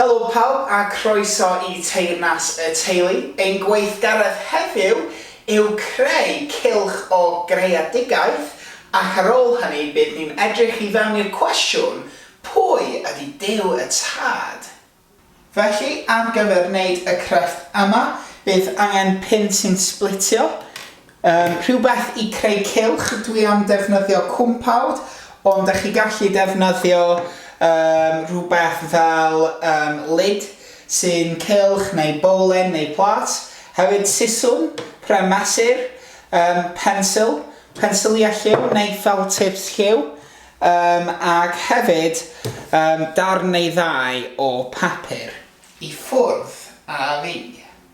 Helo pawb a croeso i Teyrnas y Teulu. Ein gweithgaredd heddiw yw creu cylch o greadigaeth ac ar ôl hynny bydd ni'n edrych i fewn i'r cwestiwn, pwy ydy Duw y Tad? Felly, ar gyfer wneud y crefft yma, bydd angen pin sy'n sblitio, Yym rhywbeth i creu cylch dwi am defnyddio cwmpawd ond dach chi gallu defnyddio yym rhywbeth fel yym lid sy'n cylch neu bowlen neu plât hefyd siswrn pren mesur yym pensil pensilia lliw neu felt tips lliw yym ac hefyd yym darn neu ddau o papur i ffwrdd â fi.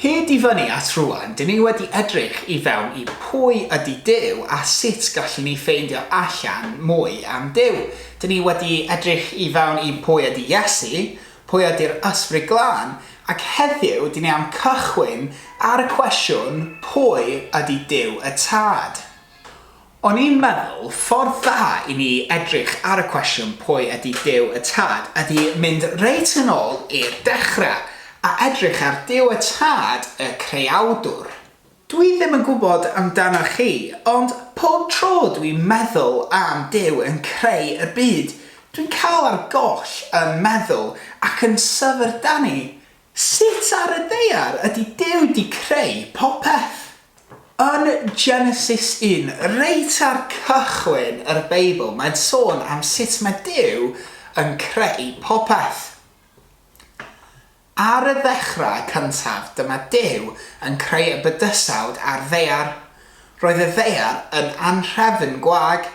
Hyd i fyny at rŵan, dyn ni wedi edrych i fewn i pwy ydy Duw a sut gallwn ni ffeindio allan mwy am Duw. Dyn ni wedi edrych i fewn i pwy ydy Iesu, pwy ydy'r Ysbryd Glân, ac heddiw dyn ni am cychwyn ar y cwestiwn pwy ydy Duw y Tad? O'n i'n meddwl, ffordd dda i ni edrych ar y cwestiwn pwy ydi Duw y Tad ydi mynd reit yn ôl i'r dechre a edrych ar Duw y Tad, y Creawdwr. Dwi ddim yn gwybod amdanoch chi, ond pob tro dwi'n meddwl am Duw yn creu y byd, dwi'n cael ar goll yn meddwl ac yn syfrdanu Sut ar y ddaear ydy Duw 'di creu popeth? Yn Genesis 1, reit ar cychwyn yr Beibl, mae'n sôn am sut mae Duw yn creu popeth. Ar y ddechrau cyntaf, dyma Duw yn creu y bydysawd a'r ddaear. Roedd y ddaear yn anhrefn gwag.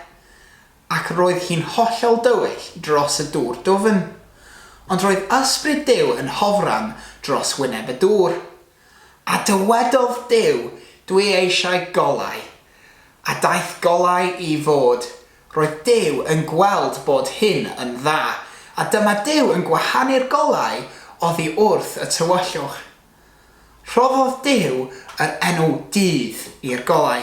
Ac roedd hi'n hollol dywyll dros y dŵr dwfn. Ond roedd Ysbryd Duw yn hofran dros wyneb y dŵr. A dywedodd Duw, Dwi eisiau golau. A daeth golau i fod. Roedd Duw yn gweld bod hyn yn dda. A dyma Duw yn gwahanu'r golau oddi wrth y tywyllwch. Rhoddodd Duw yr enw dydd i'r golau,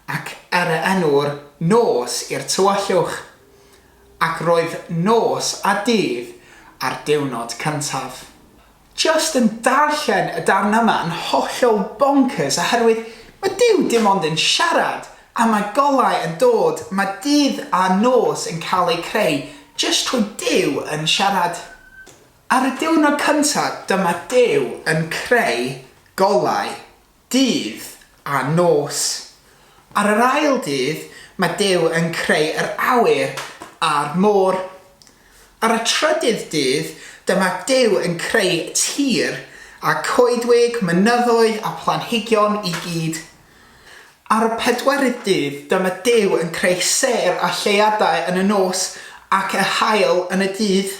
ac yr enw'r nos i'r tywyllwch. Ac roedd nos a dydd ar diwrnod cyntaf. Jyst yn darllen y darn yma yn hollol bonkers oherwydd mae Duw dim ond yn siarad a mae golau yn dod, mae dydd a nos yn cael eu creu jyst trwy Duw yn siarad. Ar y diwrnod cyntaf dyma Duw yn creu golau, dydd a nos. Ar yr ail dydd mae Duw yn creu yr awyr a'r môr. Ar y trydydd dydd dyma Duw yn creu tir a coedwig, mynyddoedd a phlanhigion i gyd. Ar y pedwerydd dydd dyma Duw yn creu sêr a lleuadau yn y nos ac yr haul yn y dydd.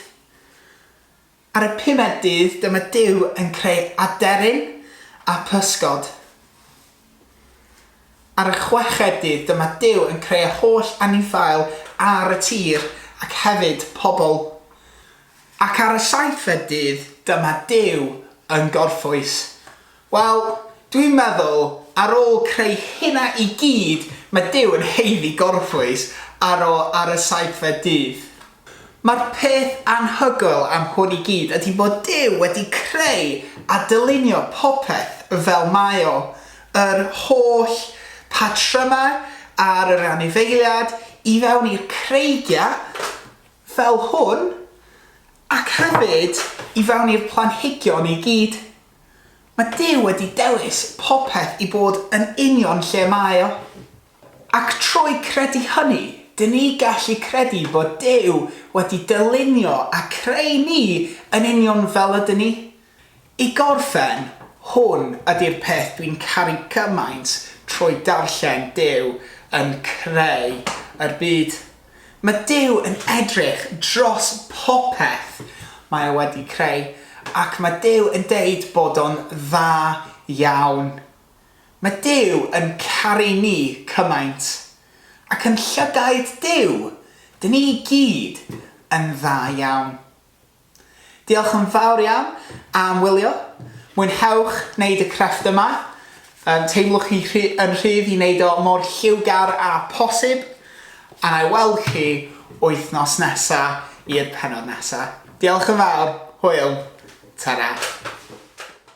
Ar y pumed dydd dyma Duw yn creu aderyn a physgod. Ar y chweched dydd dyma Duw yn creu y holl anifail ar y tir ac hefyd pobl. Ac ar y saithfed dydd dyma Duw yn gorffwys Wel, dwi'n meddwl, ar ôl creu hynna i gyd, mae Duw yn haeddu gorffwys ar ôl ar y saethfed dydd. Mae'r peth anhygoel am hwn i gyd ydy bod Duw wedi creu a dylunio popeth fel mae o, yr holl patrymau ar yr anifeiliad i fewn i'r creigiau fel hwn, ac hefyd i fewn i'r planhigion i gyd. Mae Duw wedi dewis popeth i fod yn union lle mae o. Ac trwy credu hynny, dŷn ni gallu credu bod Duw wedi dylunio a creu ni yn union fel ydyn ni. I gorffen, hwn ydy'r peth dwi'n caru gymaint trwy darllen Duw yn creu yr byd. Mae Duw yn edrych dros popeth mae o wedi creu ac mae Duw yn deud bod o'n dda iawn. Mae Duw yn caru ni cymaint. Ac yn llygaid Duw, dyn ni i gyd yn dda iawn. Diolch yn fawr iawn am wylio, mwynhewch wneud y crefft yma, yym teimlwch chi rhy- yn rhydd i wneud o mor lliwgar â posib, a na i weld chi wythnos nesa i'r pennod nesa. Diolch yn fawr, hwyl, ta-ra.